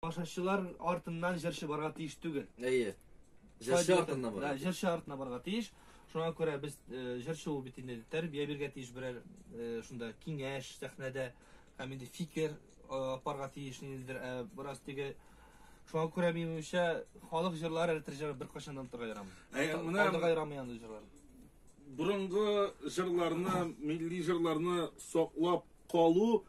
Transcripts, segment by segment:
Башачылар артыннан җырчы барга тиеш түгел. Әйе. Җырчы артыннан барга. Да, җырчы артыннан барга тиеш. Шуңа күрә без э, җырчы ул бит инде тәрбия биргә тиеш берәр э, шунда киңәш сәхнәдә һәм инде фикер э, апарга тиеш ниндидер ә бераз теге шуңа күрә минемчә халык җырлары әле тәрҗемә беркайчан да онытырга ярамый. Ә, менә- Алдыга ярамый андый җырлар. Борынгы җырларны, милли җырларны саклап калу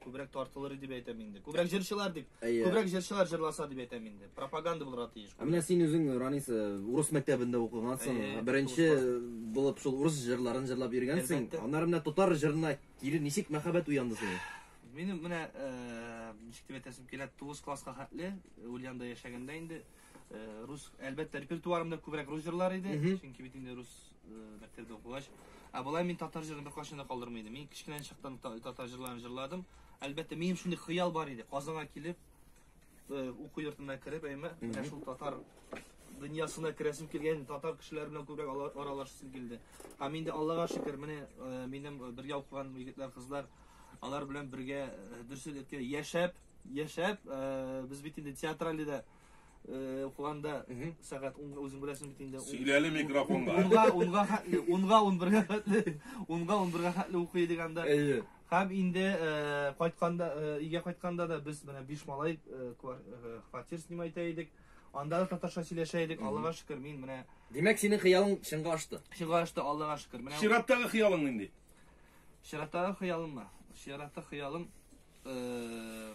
Күбрәк тартылыр дип әйтәм инде. Күбрәк җырчылар дип. Әйе. Күбрәк җырчылар җырласа дип әйтәм инде. Пропаганда булырга тиеш. Ә менә син үзең Ранис э, урыс мәктәбендә укыгансың. Әйе, Беренче булып шул урыс җырларын җырлап йөргәнсең. Әлбәттә. Аннары менә татар җырына кире ничек мәхәббәт уянды сине? Минем менә э, ничек дип әйтәсем килә, 9 класска хәтле э, Ульянда яшәгәндә инде э, рус, әлбәттә, репертуарымда күбрәк рус җырлары иде, Мгм. чөнки бит инде рус мәктәптә укыгач. Ә болай мин татар җырын беркайчан да калдырмый идем. Мин кечкенә чактан татар җырларын җырладым. Әлбәттә, минем шундый хыял бар иде. Казанга килеп, э, уку йортына кереп, әйме, менә шул татар дөньясына керәсем килгән, татар кешеләре белән күбрәк аралашасым килде. Һәм инде Аллага шөкер, менә э, минем э, бергә укыган егетләр, кызлар, алар белән бергә дөресен әйткәндә яшәп, яшәп, без бит инде театральдә да э, укыганда сәгать унга үзең беләсең бит инде. Сөйләле микрофонга. Унга, унга хәтле, унга унбергә хәтле, унга унбергә хәтле укый идек анда. Әйе. Һәм инде э, кайтканда, э, өйгә кайтканда да без менә биш малай э, квар- э, фатир снимать итә идек. Анда да татарча сөйләшә идек. Аллага шөкер, мин менә Димәк, синең хыялың чынга ашты. чыга ашты, Аллага шөкер. Менә Чираттагы хыялың нинди? Чираттагы хыялыммы? Чиратта хыялым э,